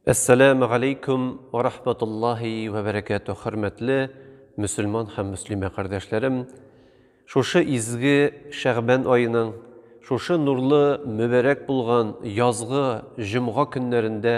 Әссәләмү галәйкүм вә рахматуллаһи вә бәрәкәтү, хөрмәтле мөселман һәм мөслимә кардәшләрем! Шушы изге Шәгъбан аеның, шушы нурлы, мөбарәк булган язгы җомга көннәрендә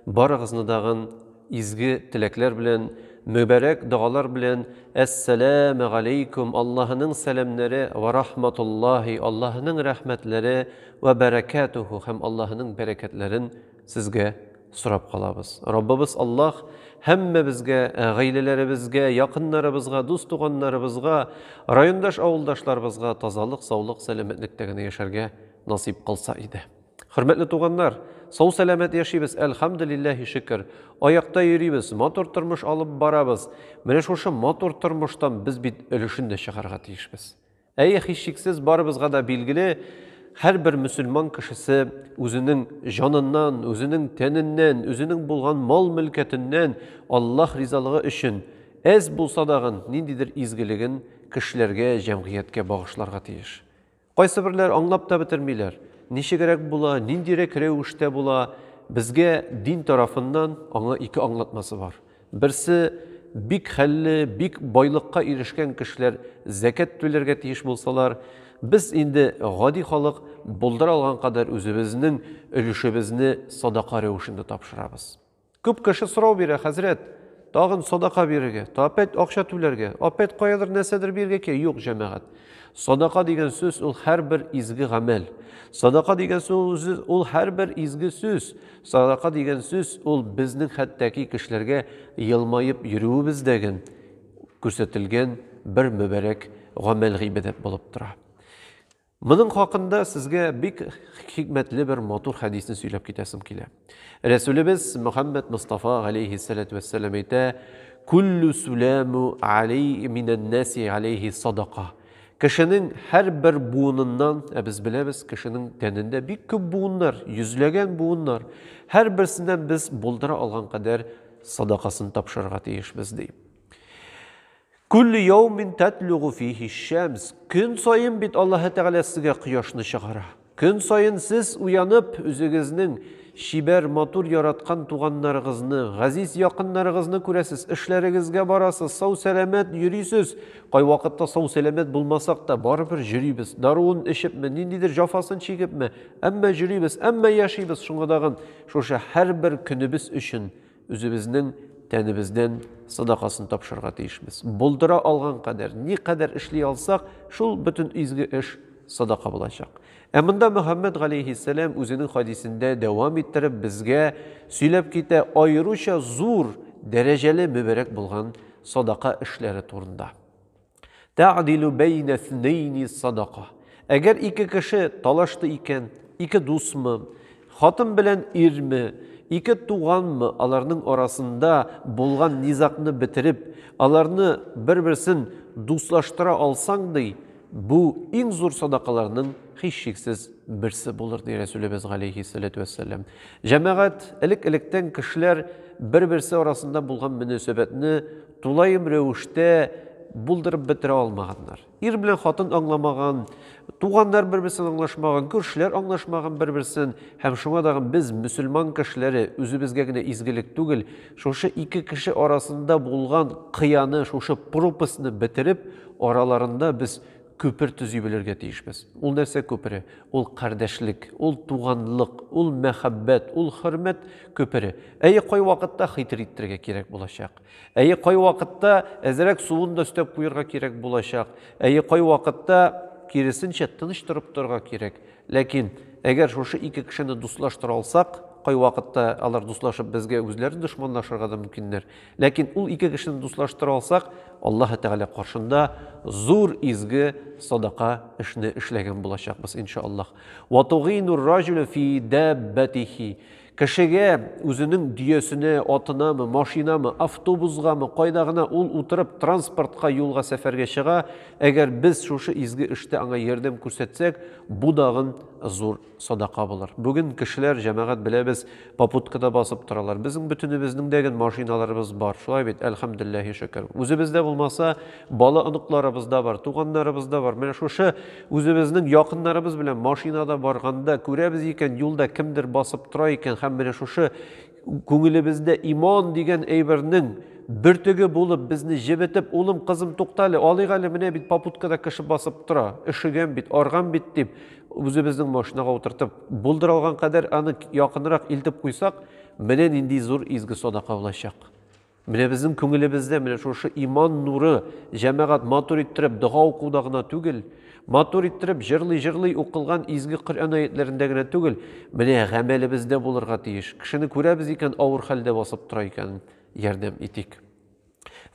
барыгызны дагын изге теләкләр белән, мөбарәк догалар белән Әссәләмү галәйкүм, Аллаһының сәламнәре, вә рахматуллаһи, Аллаһының рәхмәтләре, вә бәрәкәтүһү һәм Аллаһының бәрәкәтләрен Сезгә сорап калабыз. Раббыбыз Аллаһ һәммәбезгә, гаиләләребезгә, якыннарыбызга, дус-туганнарыбызга, райондаш-авылдашларыбызга тазалык, саулык, сәламәтлектә генә яшәргә насыйп кылса иде. Хөрмәтле туганнар, сау-сәламәт яшибез, әлхәмдүлилләһи шөкер. Аякта йөрибез, матур тормыш алып барабыз. Менә шушы матур тормыштан без бит өлешен дә чыгарга тиешбез. Әйе, һичшиксез, барыбызга да билгеле, һәрбер мөселман кешесе үзенең җаныннан, үзенең тәненнән, үзенең булган мал-мөлкәтеннән Аллаһ ризалыгы өчен әз булса дагын ниндидер изгелеген кешеләргә, җәмгыятькә багышларга тиеш. Кайсыберләр аңлап та бетермиләр, ничегрәк була, ниндирәк рәвештә була, безгә дин тарафыннан аңа ике аңлатмасы бар. Берсе, бик хәлле, бик байлыкка ирешкән кешеләр зәкят түләргә тиеш булсалар, без инде, гади халык, булдыра алган кадәр үзебезнең өлешебезне садака рәвешендә тапшырабыз. Күп кеше сорау бирә, Хәзрәт, тагын садака бирергә, опять акча түләргә, опять каядыр нәрсәдер бирергә кирәк. Юк, җәмәгать. Садака дигән сүз ул һәрбер изге гамәл. Садака дигән сүз ул һәрбер изге сүз. Садака дигән сүз ул безнең хәттәки кешеләргә елмаеп йөрүебез дә гэн күрсәтелгән бер мөбарәк гамәл гыйбадәт булып тора. Моның хакында сезгә бик хикмәтле бер матур хәдисне сөйләп китәсем килә. Рәсүлебез Мөхәммәд Мустафа галейһи салату вәссәлам әйтә, Күллү сүләмү алей минән нәси алейһи садака. Кешенең һәрбер буыныннан, ә без беләбез, кешенең тәнендә бик күп буыннар, йөзләгән буыннар. Һәрберсеннән без булдыра алган кадәр садакасын тапшырырга тиешбез, ди. Күлле яумин тәтлүгу фихи шәмс. Көн саен бит Аллаһы Тәгалә сезгә кояшны чыгара. Көн саен сез уянып, үзегезнең чибәр, матур, яраткан туганнарыгызны, газиз якыннарыгызны күрәсез, эшләрегезгә барасыз, сау-сәламәт йөрисез. Кайвакытта сау-сәламәт булмасак та, барыбер йөрибез. Даруын эчепме, ниндидер җафасын чигепме, әмма йөрибез, әмма яшибез. Шуңа тагын шушы һәрбер көнебез өчен Үзебезнең тәнебездән садакасын тапшырырга тиешбез. Булдыра алган кадәр, ни кадәр эшли алсак, шул бөтен изге эш садака булачак. Ә монда Мөхәммәд галәйһиссәлам үзенең хадисендә дәвам иттереп безгә сөйләп китә аеруча зур дәрәҗәле мөбәрәк булган садака эшләре турында. Тәгъдилу бәйнә снәйни садака. Әгәр ике кеше талашты икән, ике дусмы, хатын белән ирме, ике туганмы, аларның арасында булган низакны бетереп, аларны бер-берсен дуслаштыра алсаң, ди, бу иң зур садакаларның һичшиксез берсе булыр, ди Рәсүлебез галәйһиссәләтү вәссәлам. Җәмәгать, элек-электән кешеләр бер-берсе арасында булган мөнәсәбәтне Тулаем рәвештә булдырып бетерә алмаганнар. Ир белән хатын аңламаган, туганнар бер-берсен аңлашмаган, күршеләр аңлашмаган бер-берсен һәм шуңа дагы без мөселман кешеләре үзебезгә генә изгелек түгел, шушы ике кеше арасында булган кыяны, шушы пропастьны бетереп, араларында без күпер төзи белергә тиешбез. Ул нәрсә күпере? Ул кардәшлек, ул туганлык, ул мәхәббәт, ул хөрмәт күпере. Әйе, кайвакытта хитриттерергә кирәк булачак. Әйе, кайвакытта әзрәк суын да өстәп куярга кирәк булачак. Әйе, кайвакытта киресенчә тыныч торып торырга кирәк. Ләкин әгәр шушы ике кешене дуслаштыра алсак, кайвакытта алар дуслашып безгә үзләре дошманлашырга да мөмкиннәр. Ләкин ул ике кешене дуслаштыра алсак, Аллаһы Тәгалә каршында зур изге садака эшне эшләгән булачакбыз, иншааллаһ. Ва тугинур ражулю фи дәббәтихи. Кешегә үзенең дөясенә, атынамы, машинамы, автобусгамы, кайда гына ул утырып, транспортка, юлга, сәфәргә чыга, әгәр без шушы изге эштә аңа ярдәм күрсәтсәк, бу дагын зур садака булыр. Бүген кешеләр, җәмәгать, беләбез, попуткада басып торалар. Безнең бөтенебезнең дә гел машиналарыбыз бар, шулай бит, әлхәмдүлилләһи шөкер. Үзебездә булмаса, бала-оныкларыбызда бар, туганнарыбызда бар. Менә шушы Үзебезнең якыннарыбыз белән машинада барганда күрәбез икән, юлда кемдер басып тора икән һәм менә шушы күңелебездә иман дигән әйбернең бөртеге булып безне җебетеп, улым, кызым, туктале, алыйк әле, менә бит попуткада кеше басып тора, өшегән бит, арган бит дип, үзебезнең машинага утыртып, булдыралган кадәр аны якынрак илтеп куйсак, менә нинди зур изге садака булачак. Менә безнең күңелебездә менә шушы иман нуры җәмәгать матур иттереп дога укуда гына түгел, матур иттереп җырлый-җырлый укылган изге Коръән аятләрендә генә түгел, менә гамәлебездә булырга тиеш. Кешене күрәбез икән, авыр хәлдә басып тора икән, ярдәм итик.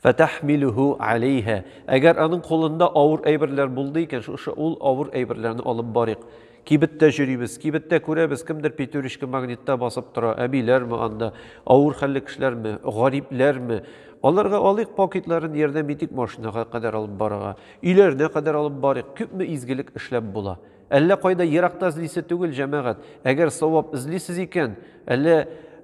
Фәтәхмилүһү алейһә. Әгәр аның кулында авыр әйберләр булды икән, шушы ул авыр әйберләрне алып барыйк. Кибеттә җөрибез, кибеттә күрәбез, кемдер пятерочка магнитта басып тора, әбиләрме анда, авыр хәлле кешеләрме, гарипләрме? Аларга алыйк пакетларын ярдәм итик машинага кадәр алып барырга, өйләренә кадәр алып барыйк, күпме изгелек эшләп була. Әллә кайда еракта эзлисе түгел, җәмәгать. Әгәр савап эзлисез икән, әллә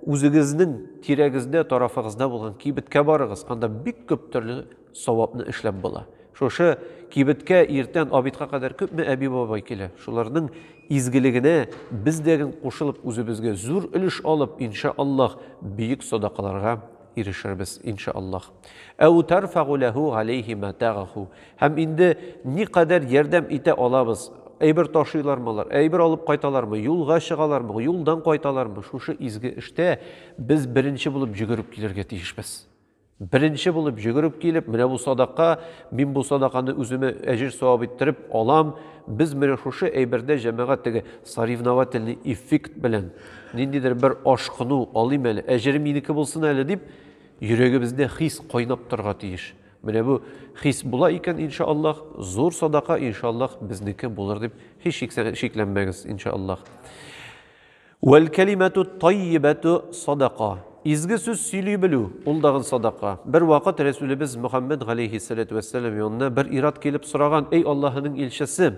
үзегезнең тирәгездә, тарафыгызда булган кибеткә барыгыз, анда бик күп төрле Савапны эшләп була. Шушы кибеткә иртән обедка кадәр күпме әби-бабай килә. Шуларның изгелегенә без дә гел кушылып, үзебезгә зур өлеш алып, инша Аллаһ, бөек садакаларга ирешербез, инша Аллаһ. Әү тарфагу ләһу галәйһи матагаху. Һәм инде никадәр ярдәм итә алабыз, әйбер ташыйлармы алар, әйбер алып кайталармы, юлга чыгалармы, юлдан кайталармы, шушы изге эштә без беренче булып йөгереп килергә тиешбез. Беренче булып җөгереп килеп, менә бу садака, мин бу садаканы үземә әҗер-савап иттереп алам. Без менә шушы әйбердә җәмәгать теге соревновательный эффект белән ниндидер бер ашкыну алыйм әле, әҗере минеке булсын әле дип, йөрәгебездә хис кайнап торырга тиеш. Менә бу хис була икән, иншааллаһ, зур садака, иншааллаһ, безнеке булыр дип һичшиксез шикләнмәгез, иншааллаһ. Вәл кәлимәту таййибәту садака. Изге сүз сөйли белү, ул дагын садака. Бер вакыт Рәсүлебез Мөхәммәд галәйһиссәләтү вәссәлам янына бер ират килеп сораган, Эй Аллаһының илчесе,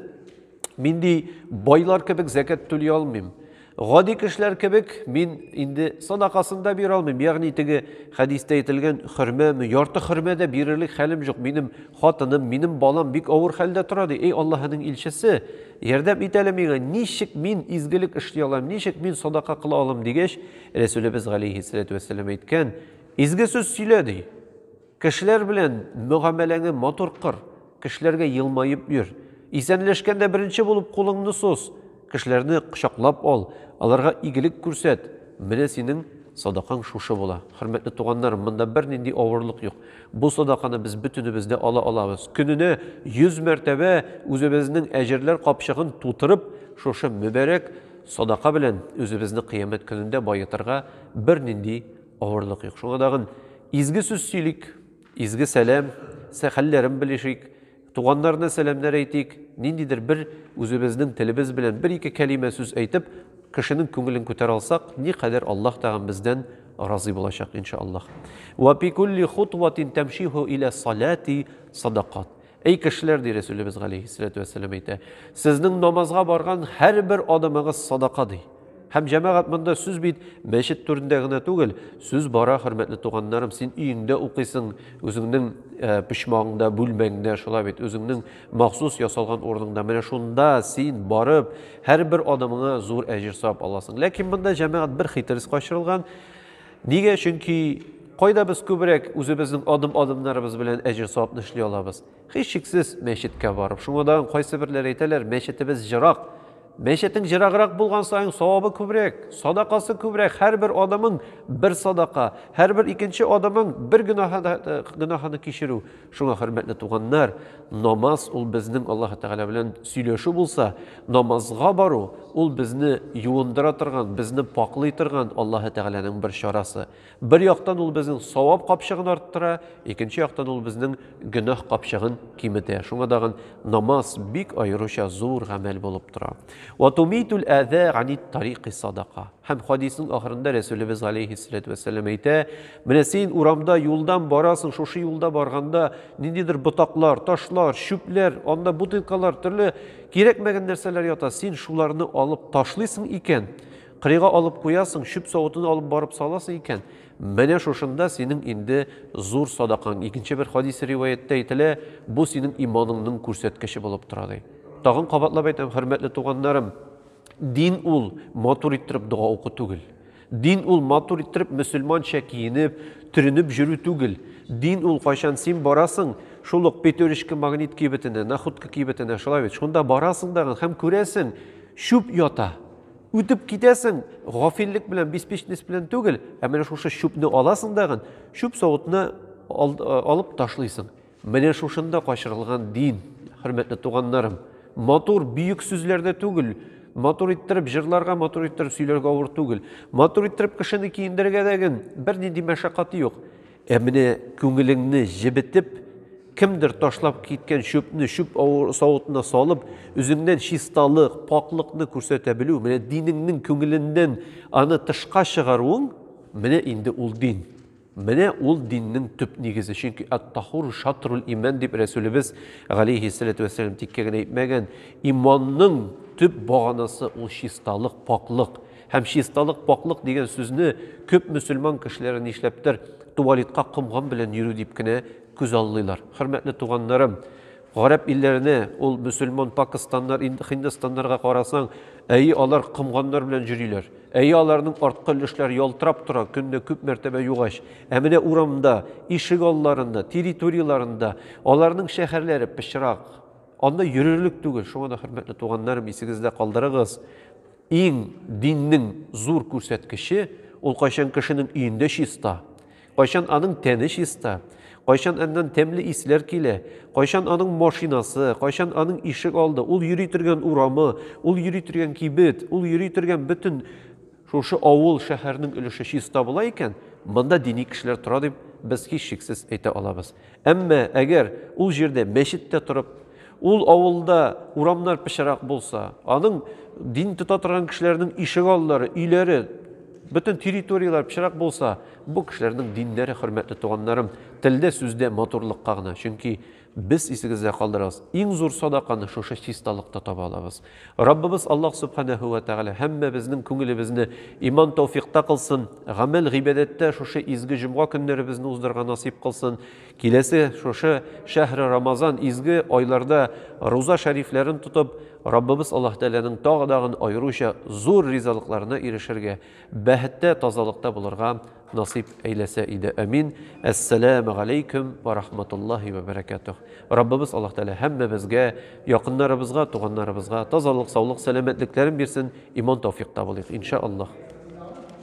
мин ди байлар кебек зәкәт түли алмыйм. Гади кешеләр кебек мин инде садакасын да бирә алмыйм. Ягъни теге хәдистә әйтелгән хөрмәме, ярты хөрмә дә бирерлек хәлем юк. Минем Хатыным, минем балам бик авыр хәлдә тора, ди. Эй Аллаһының илчесе, ярдәм ит әле миңа, ничек мин изгелек эшли алам, ничек мин садака кыла алам, дигәч, Рәсүлебез галәйһиссәләтү вәссәлам әйткән, Изге сүз сөйлә, ди. Кешеләр белән мөгамәләңе матур кыр, кешеләргә елмаеп йөр. Исәнләшкәндә беренче булып кулыңны сус. Кешеләрне кочаклап ал, аларга игелек күрсәт, менә синең садакаң шушы була. Хөрмәтле туганнарым, монда бернинди авырлык юк. Бу садаканы без бөтенебез дә ала алабыз. Көненә 100 мәртәбә үзебезнең әҗерләр капчыгын тутырып, шушы мөбарәк садака белән үзебезне Кыямәт көнендә баетырга бернинди авырлык юк. Шуңа тагын изге сүз сөйлик. Изге сәлам, сә хәлләрен белешик, туганнарына сәламнәр әйтик, ниндидер бер үзебезнең телебез белән бер-ике кәлимә сүз әйтеп, кешенең күңелен күтәрә алсак, никадәр Аллаһ тагын бездән разый булачак, иншаАллаһ. Вә пи кулли хутватин тәмшиһу илә салати садакат. Эй кешеләр, ди Рәсүлебез галейһиссәләтү вәссәлам әйтә, сезнең намазга барган һәрбер адымыгыз садака, ди. Һәм җәмәгать монда сүз бит мәчет түрендә генә түгел, сүз бара, хөрмәтле туганнарым, син өеңдә укыйсың, үзеңнең э, почмагыңда, бүлмәңдә, шулай бит, үзеңнең махсус ясалган урыныңда. Менә шунда син барып, һәрбер адымыңа зур әҗер сап аласың. Ләкин монда җәмәгать бер хитрес качырылган. Нигә? Чөнки кайда без күбрәк үзебезнең адым-адымнарыбыз белән әҗер-савапны эшли алабыз? Һичшиксез, мәчеткә барып. Шуңа да кайсы берләр әйтәләр, мәчетебез җырак. Мәчетең җыраграк булган саен савабы күбрәк, садакасы күбрәк, һәрбер адымың бер садака, һәрбер икенче адымың бер гөнаһ, гөнаһны кичерү. Шуңа, хөрмәтле туганнар, намаз ул безнең Аллаһ Тәгалә белән сөйләшү булса, намазга бару ул безне юындыра торган, безне пакълый торган Аллаһ Тәгаләнең бер чарасы. Бер яктан ул безнең савап капчыгын арттыра, икенче яктан ул безнең гөнаһ капчыгын киметә. Шуңа дагын намаз бик аеруча зур гамәл булып тора. Ва тумитул аза ани тарикы садака. Һәм хадисның ахырында Рәсүлебез галәйһиссәләтү вәссәлам әйтә, менә син урамда юлдан барасың, шушы юлда барганда ниндидер ботаклар, ташлар, чүпләр, анда бутылкалар, төрле кирәкмәгән нәрсәләр ята, син шуларны алып ташлыйсың икән, кырыйга алып куясың, чүп савытын алып барып саласың икән, менә шушында синең инде зур садакаң. Икенче бер хадис риваяттә әйтелә, бу синең иманыңның күрсәткече булып тора ди. Тагын кабатлап әйтәм, хөрмәтле туганнарым, Дин ул матур иттереп дога уку түгел. Дин ул матур иттереп мөселманча киенеп, төренеп җөрү түгел. Дин ул кайчан син барасың, шул ук петеречка магнит кибетенә, находка кибетенә, шулай бит, шунда барасың дагы һәм күрәсең, чүп ята. Үтеп китәсең, гафиллек белән, беспечность белән түгел, ә менә шушы чүпне аласың дагы, чүп савытны алып ташлыйсың. Менә шушында качырылган дин, хөрмәтле туганнарым. Матур, бөек сүзләрдә түгел. Матур иттереп җырларга, матур иттереп сөйләргә авыр түгел. Матур иттереп кешене киендерергә дә гел бернинди мәшәкать юк. Ә менә күңелеңне җебетеп, кемдер ташлап киткән чүпне чүп савытына салып, үзеңнән чисталык, пакьлыкны күрсәтә белү, менә динеңнең күңеленнән аны тышка чыгаруың, менә инде ул дин. Менә ул диннең төп нигезе, чөнки ат-тахуру шатрул имән дип Рәсүлебез галәйһи ссәләтү вәссәлам тиккә генә әйтмәгән, иманның төп баганасы ул чисталык, пакълык. Һәм чисталык, пакълык дигән сүзне күп мөселман кешеләре нишләптер туалетка комган белән йөрү дип кенә күз аллыйлар. Хөрмәтле туганнарым, гарәп илләренә, ул мөселман пакыстаннар, һиндостаннарга карасаң, әйе алар комганнар белән җөриләр. Әйе, аларның арткы өлешләре ялтырап тора, көнне күп мәртәбә югач. Ә менә урамда, ишек алларында, территорияларында аларның шәһәрләре пычрак. Анда йөрерлек түгел. Шуңа да, хөрмәтле туганнарым, исегездә калдырыгыз. Иң диннең зур күрсәткече, ул кайчан кешенең өендә чиста, Кайчан аның тәне чиста, кайчан аннан тәмле исләр килә, кайчан аның машинасы, кайчан аның ишек алды, ул йөри торган урамы, ул йөри торган кибет, ул йөри торган бөтен шушы авыл, шәһәрнең өлеше чиста була икән, монда дини кешеләр тора дип без һичшиксез әйтә алабыз. Әмма әгәр ул җирдә мәчет тә торып, ул авылда урамнар пычырак булса, аның дин тота торган кешеләрнең ишек аллары, өйләре, бөтен территорияләр пычырак булса, бу кешеләрнең диннәре, хөрмәтле туганнарым, телдә, сүздә матурлыкка гына. Чөнки без исегездә калдырыгыз, иң зур садаканы шушы чисталыкта таба алабыз. Раббыбыз Аллаһ Субханәһү вә Тәгалә һәммәбезнең күңелебезне иман тауфикта кылсын, гамәл гыйбадәттә шушы изге җомга көннәребезне уздырырга насыйп кылсын. Киләсе шушы шәһре Рамазан изге айларда руза шәрифләрен тотып, Раббыбыз Аллаһ Тәгаләнең тагы-дагын аеруча зур ризалыкларына ирешергә, бәһеттә, тазалыкта булырга Насыйп әйләсә иде, әмин. Әссәләмә галәйкүм вә рахматуллаһи вә бәрәкәтүһ. Раббыбыз Аллаһ Тәгалә һәммәбезгә, якыннарыбызга, туганнарыбызга тазалык, саулык, сәламәтлекләрен бирсен, иман-тәүфикъ табылыйк, иншаАллаһ.